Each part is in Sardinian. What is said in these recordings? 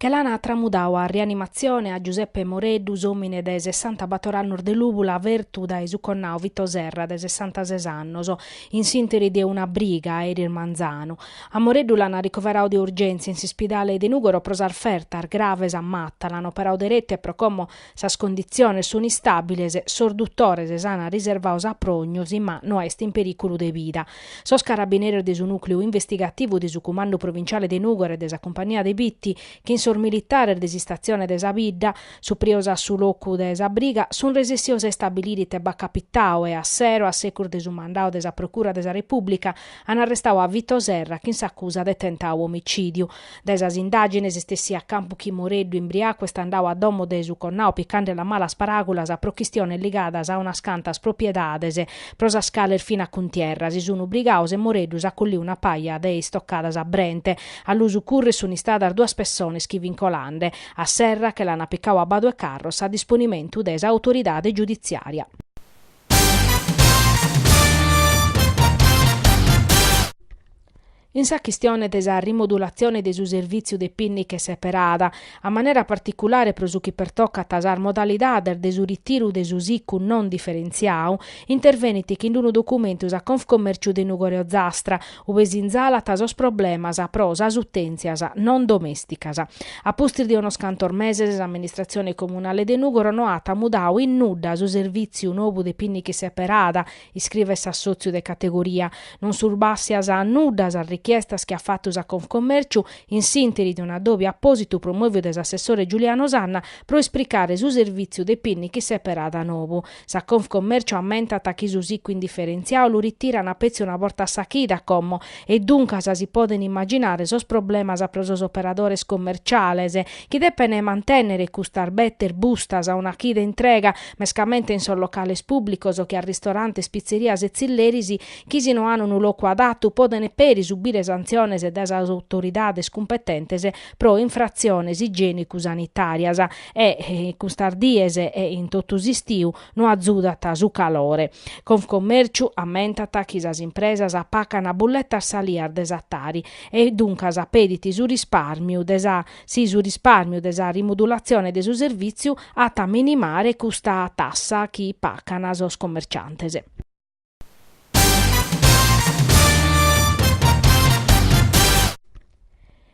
Che l'ana tramudau a rianimatzione a Giuseppe Moreddu, s'omine de sessantabator annos de Lùbula fertu dae su connau Vito Serra de sessantases annos, in s'interi de una briga a eris manzanu. A Moreddu l'ana ricoverau de urgentzia in s'ispidale de Nùgoro pro sas fertas graves a matta, l'ana operau derette pro como Sas conditziones sun istàbiles, sos dutores s'an riservadu sa prògnosi ma no est in perìculu de vida. Sos carabineros de su nùcleu investigativu de su Cumandu Provinciale de Nùgoro e de sa Cumpania de Bitti, chin sos militares de s'istatzione de sa bidda, suprios a su locu de sa briga, sun resessios a istabilire ite b'at capitadu e a sero, a secus de su mandadu de sa Procura de sa Repùblica, an arrestadu a Vito Serra chin s'acusa de tentadu omicìdiu. Dae sas indàgines est essiu a campu chi Moreddu imbriacu est andadu a domo de su connau picandelu a malas paràgulas pro chistiones ligadas a unas cantas propiedades pro sas cales fin a cuntierra, si sun brigados e Moreddu s'at collidu una paja de istocadas a brente. A lu sucurrer sun istadas duas pessones chi fin colande. A Serra che l'ana picadu a Badu 'e Carros a disponimentu de sa autoridade giudiziaria. In sa chistione de sa rimodulatzione de su servìtziu de pinniche seperada, a manera particulare pro su chi pertocat sas modalidades de su ritiru de su sicu non diferentziadu, intervenit chin unu documentu sa Confcommerciu de Nùgoro e Ozastra, ube sinzalat sos problemas pro sas utèntzias non domèsticas. A pustis de unos cantos meses s'amministratzione comunale de Nùgoro no at mudadu in nudda su servìtziu nou de pinniche seperada, Iscrivet s'assòtziu de categoria. Non sun bàssias a nudda sas richiestas chi at fatu sa Confcomèrciu in s'ìnteri de un'addòbiu apòsitu promòviu de s'assessore Giuliano Sanna pro ispricare su servìtziu de pinniche seperada nou. Sa Confcomèrciu ammentat chi su sicu indiferentziadu lu ritirana petzi una borta a sa chida, como, e duncas si podent imaginare sos problemas pro sos operadores commerciales, chi depent mantènnere custas bettes bustas una chida intrega, mescamente in sos locales pùblicos che a ristorantes, pitzerias e tzilleris, chi si no an unu locu adatu podent peri subire santziones dae sas autoridades cumpetentes pro infratziones igiènicu-sanitàrias e custas dies e in totu s'istiu no azudat su calore. Confcommèrciu ammentat chi sas impresas pacan bulletas salias de sa Tari e duncas pedit su rispàrmiu de sa Si su rispàrmiu de sa rimodulatzione de su servìtziu at a minimare custa tassa chi pacan sos commerciantes.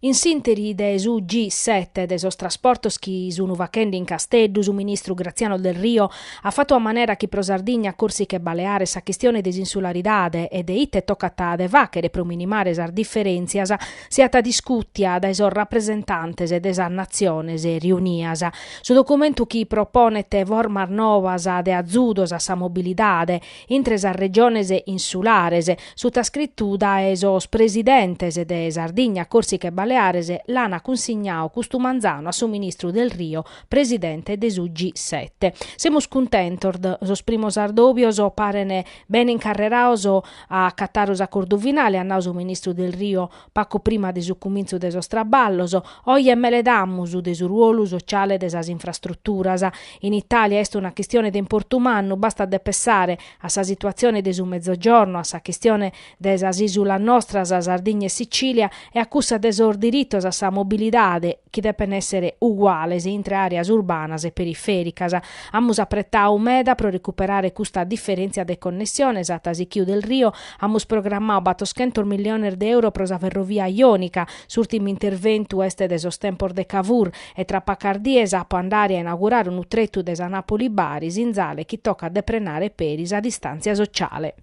In s'ìnteri de su G7 de sos trasportos chi sun fachende in Casteddu, su ministru Graziano Delrio at fatu a manera chi pro Sardigna, Còrsica e Baleares sa chistione de s'insularidade e de ite tocat de fàchere pro minimare sas diferèntzias siat discùtia dae sos rapresentantes de sas Natziones riunias. Su documentu chi proponet formas novas de azudos a sa mobilidade intre sas regiones insulares, sutascritu dae sos presidentes de Sardigna, Còrsica e Baleares, l'an cunsignadu custu manzanu a su ministru Del Rio, presidente de su G sette. Semus cuntentos, sos primos ardòbios paren bene incarrerados A acatare s'acordu finale, at nau su ministru Del Rio pacu prima de su cumintzu de sos traballos, oie meledamus de su ruolu sociale de sas infrastruturas. In Italia est una chistione de importu mannu, bastat de pessare a sa situatzione de su Mezzogiorno, a sa chistione de sas isulas nostras, Sardigna e Sicilia, e a cussa de sos diritos a sa mobilidade chi depen èssere uguales intre àreas urbanas e perifèricas. Amus apretadu meda pro recuperare custa diferèntzia de connessiones at sichiu Del Rio, amus programmadu battoschentos milliones de euro pro sa ferrovia jònica, s'ùrtimu interventu est de sos tempos de Cavour e tra pacas dies apo a andare a inaugurare unu tretu de sa Nàpoli-Bari, sinzale chi tocat de prenare peri sa distàntzia sociale.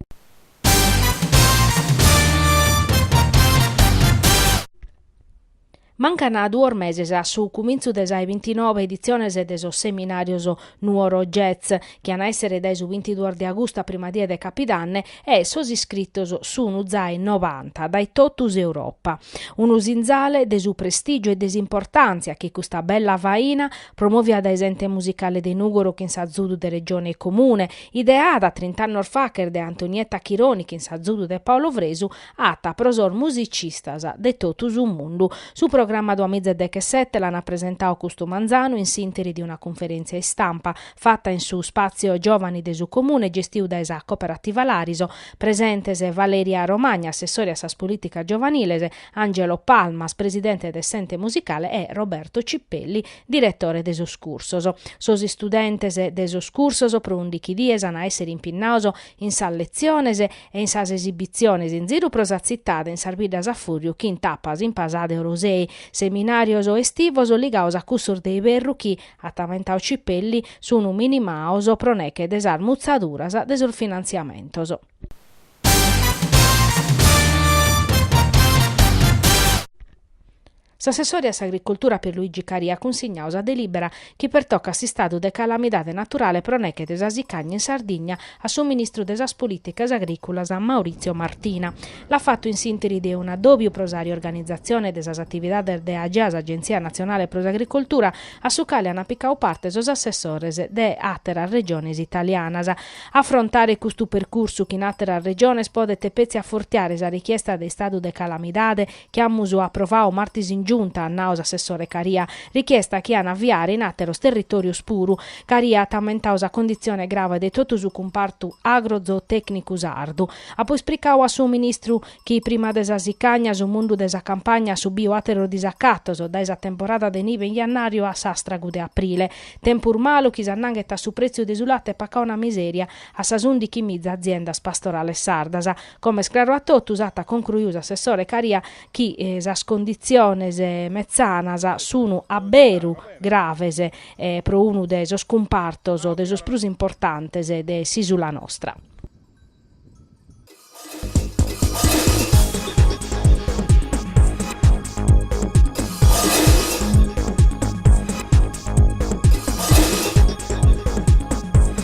Mancan duos meses a su cumintzu de sa 'e bintinobe editziones de sos seminàrios Nuoro Jazz, chi an a èssere dae su bintiduos de agustu a prima die de capidanne e sos iscritos sun zai novanta dae totu s'Europa. Unu sinzale de su prestìgiu e de s'importàntzia chi custa bella faina, promòvia dae s'Ente Musicale de Nùgoro chin s'azudu de Regione e Comune, Ideada trint'annos fachet de Antonietta Chironi chin s'azudu de Paolo Fresu, at, pro sos musicistas de totu su mundu. Su programma Duamiza e dechesete l'an presentadu custu manzanu in s'interi de una cunferèntzia istampa fata in su Spazio Giovani de su Comune gestiu dae sa Cooperativa Lariso, presentes Valeria Romagna, assessore a sas polìticas giovaniles, Angelo Palmas, presidente de s'Ente Musicale e Roberto Cipelli, Diretore de sos cursos. Sos istudentes de sos cursos pro undichi dies an a èssere impinnados in sas letziones e in sas esibitziones in ziru pro sa tzitade in sas biddas a fùrriu chin tapas in Pasada e Orosei, seminàrios estivos ligados a cussos de iberru chi, at amentadu Cipelli, sun minimados pro nèche de sas mutzaduras de sos finantziamentos. S'assessore a s'Agricultura Pierluigi Caria at cunsignadu sa delìbera chi pertocat s'istadu de calamidade naturale pro neche de sa sicagna in Sardigna a su ministru de sas Polìticas Agrìculas Maurizio Martina. L'at fatu in s'ìnteri de un'addòbiu pro sa riorganizatzione de sas atividades de Agea, s' Agentzia Natzionale pro s'Agricultura, a su cale ant picadu parte sos assessores de àteras Regiones italianas. Afrontare custu percursu chin àteras Regiones podet petzi afortiare sa richiesta de istadu de calamidade, chi amus aprovau martis in Giunta, at nau s'assessore Caria, richiesta chi an a avviare in àteros territòrios puru. Caria at ammentau sa conditzione grave de totu su cumpartu agrozootècnicu sardu. Apo ispricau a su Ministru chi prima de sa sicagna, su mundu de sa campagna at subiu àteros disacatos, dae sa temporada de nive in jannàriu a s'àstragu de aprile. Tempus malu chi s'annanghet a su prètziu de su late pacau una misèria a sas ùndichi miza aziendas pastorales sardas. Como est craru a totus, at concruiu s'assessore Caria chi sas conditziones metzanas sun a beru graves pro unu de sos cumpartos o de sos prus importantes de s'ìsula nostra.